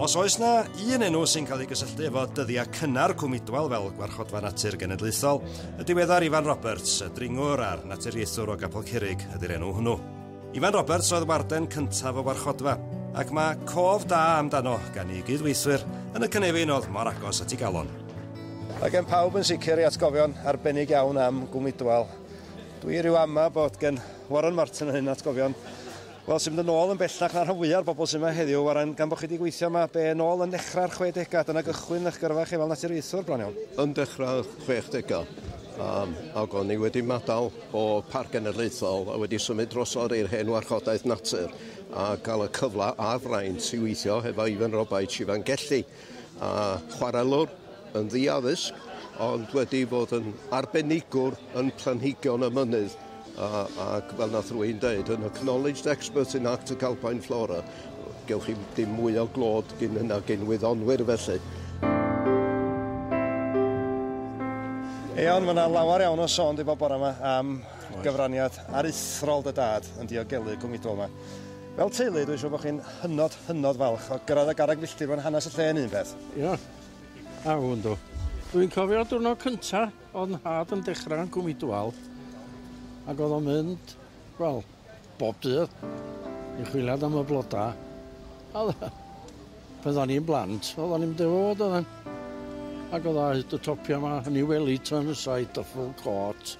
Os oes na un enw sy'n cael ei gysylltu efo dyddiau cynnar Cwm Idwal fel Gwarchodfa Natur Genedlaethol, y diweddar Ifan Roberts, y dringwr a'r naturiaethwr o Gapel Curig ydy'r enw hwnnw. Ifan Roberts oedd warden cyntaf y warchodfa, ac mae cof da amdano gan ei gyd-weithwyr yn y cynefin oedd mor agos at ei galon. Mae gen pawb yn sicr ei atgofion arbennig iawn am Gwm Idwal. Dwi rhyw ama bod gen Warren Martin yn hyn atgofion wel sy'n mynd yn ôl yn bellach na'r rhan fwya'r bobl sy'n yma heddiw. Warren, gan bod chi wedi gweithio yma be yn ôl yn nechrau'r 60au, dyna gychwyn eich gyrfa chi fel naturiaethwr bron iawn. Yn dechrau'r 60au, um, ac o'n i wedi madael o Parc Genedlaethol a wedi symud drosodd i'r hen warchodaeth natur a cael y cyfle a'r fraint i weithio hefo Ifan Robaets, Sivan Gelli, a chwarelwr yn ddi-addysg ond wedi bod yn arbenigwr yn planhigion y mynydd a, ac fel nath rywun deud, yn acknowledged expert in Arctic Alpine flora. Gewch chi dim mwy o glod gin hynna gin wyddonwyr felly. Iawn, mae yna lawer iawn o sôn di bod bore yma am gyfraniad aruthrol dy dad yn diogelu Cwm Idwal yma. Fel teulu, dwi'n siŵr bod chi'n hynod, hynod falch o gyrraedd y garreg filltir mewn hanes y lle yn un peth. Ia, a hwn do. Dwi'n cofio diwrnod cynta oedd nhad yn dechrau yn Cwm Idwal ac oedd o'n mynd, wel, bob dydd i chwiliad am y blodau. A pan o'n i'n blant, oedd o'n i'n mynd fod oedd o'n. Ac oedd o'n hyd y topiau yma, yn ei weli tan y saith o ffwl cot.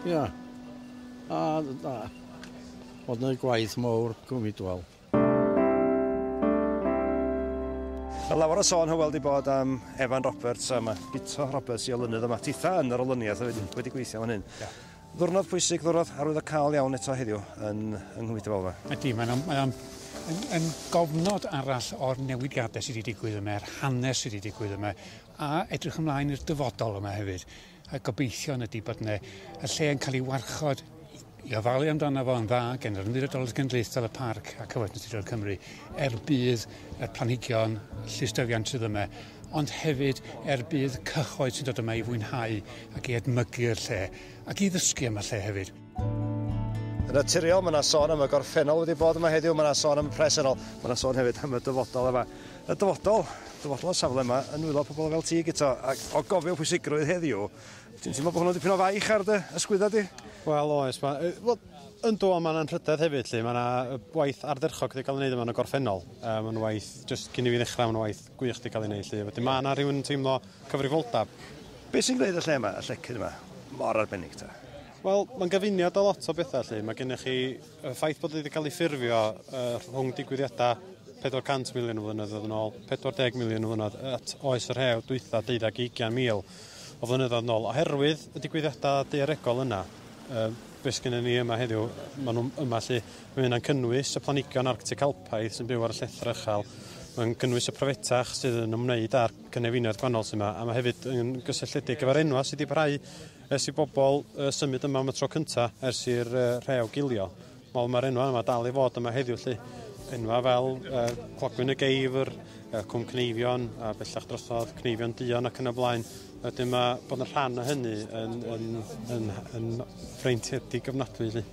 Ia. A da. Oedd yna gwaith mawr, gwmidwal. Mae lawer o sôn hywel di bod am Evan Roberts a mae Guto Roberts i olynydd yma. Titha yn yr olyniaeth wedi, wedi gweithio fan hyn. Yeah. Ddwrnod pwysig, ddwrnod arwydd o cael iawn eto heddiw yn, yng Nghymru Dyfalfa. Ydy, mae'n am, mae am, yn, yn gofnod arall o'r newidiadau sydd wedi digwydd yma, a'r hanes sydd wedi digwydd yma, a edrych ymlaen i'r dyfodol yma hefyd. A gobeithion ydy bod yna y lle yn cael ei warchod i ofalu amdano fo yn dda gen yr Ymddiriedolaeth Genedlaethol y Parc a Cyfoeth Naturiol Cymru er budd y planhigion llystyfiant sydd yma ond hefyd er budd cyhoedd sy'n dod yma i fwynhau ac i edmygu'r lle ac i ddysgu am y lle hefyd. Yn naturiol, mae yna sôn am y gorffennol wedi bod yma heddiw, mae yna sôn am y presennol, mae yna sôn hefyd am y dyfodol yma. Y dyfodol, dyfodol y safle yma, yn nwylo pobl fel ti, Guto, ac o gofio pwysigrwydd heddiw, ti'n teimlo bod hwnnw dipyn o faich ar dy ysgwydda di? Wel, oes, mae... Wel, yndw, ond mae'n anrhydedd hefyd, lle mae yna waith ardderchog wedi cael ei wneud yma yn y gorffennol. Um, mae'n waith, jyst cyn i fi ddechrau, mae'n waith gwych wedi cael ei wneud, lle. Wedyn mae yna rhywun yn teimlo cyfrifoldeb. Beth sy'n gwneud y lle yma, y llecyn yma, mor arbennig ta? Wel, mae'n gyfuniad o lot o bethau lle. Mae gennych chi y ffaith bod wedi cael ei ffurfio uh, rhwng digwyddiadau 400 miliwn o flynyddoedd yn ôl, 40 miliwn o flynyddoedd at oes yr hew dwytha 20-20 o flynyddoedd yn ôl, oherwydd y digwyddiadau daearegol yna. Uh, beth gen ni yma heddiw, maen nhw yma lle, mae hynna'n cynnwys y planigion arctic alpaidd sy'n byw ar y llethr uchel, mae'n cynnwys y profetach sydd yn ymwneud â'r cynefinoedd gwahanol sy'n yma, a mae hefyd yn gysylltiedig gyfer enwa sydd wedi parhau Ers i bobl uh, symud yma am y tro cynta ers i'r uh, rhew gilio, wel mae'r enwau yma dal i fod yma heddiw lly. Enwau fel uh, Clogwyn y Geifr, uh, Cwm Cneifion, a bellach drosodd Cneifion Dion ac yn y blaen. Wedyn mae bod yn rhan o hynny yn, yn, yn, yn, yn ffreintiedig gyfnadwy lly.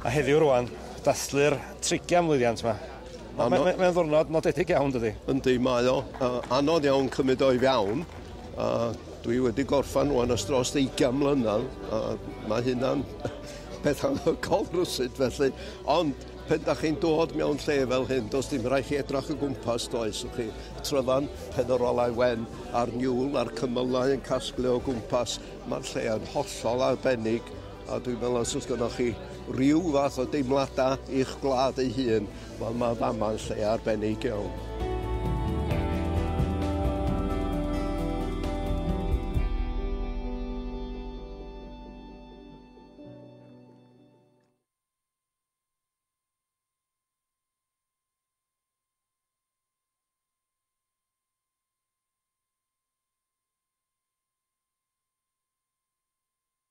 A heddiw rwan, dathlu'r trigian mlwyddiant 'ma. Mae mae mae o'n ddwrnod nodedig iawn dydi? Yndi, mae o. Uh, anodd iawn cymryd o i fewn. Uh, dwi wedi gorffan rwan ys dros 20 mlynedd. Uh, mae hynna'n beth anhygol rwsyd felly. Ond pen da chi'n dod mewn lle fel hyn, does dim rhaid chi edrach y gwmpas, does? Ych chi tryfan pen yr olau wen a'r niwl a'r cymylau yn casglu o gwmpas. Mae'r lle yn hollol arbennig. A dwi'n meddwl os oes gennych chi ryw fath o deimladau i'ch gwlad ei hun, wel mae fama yn lle arbennig iawn.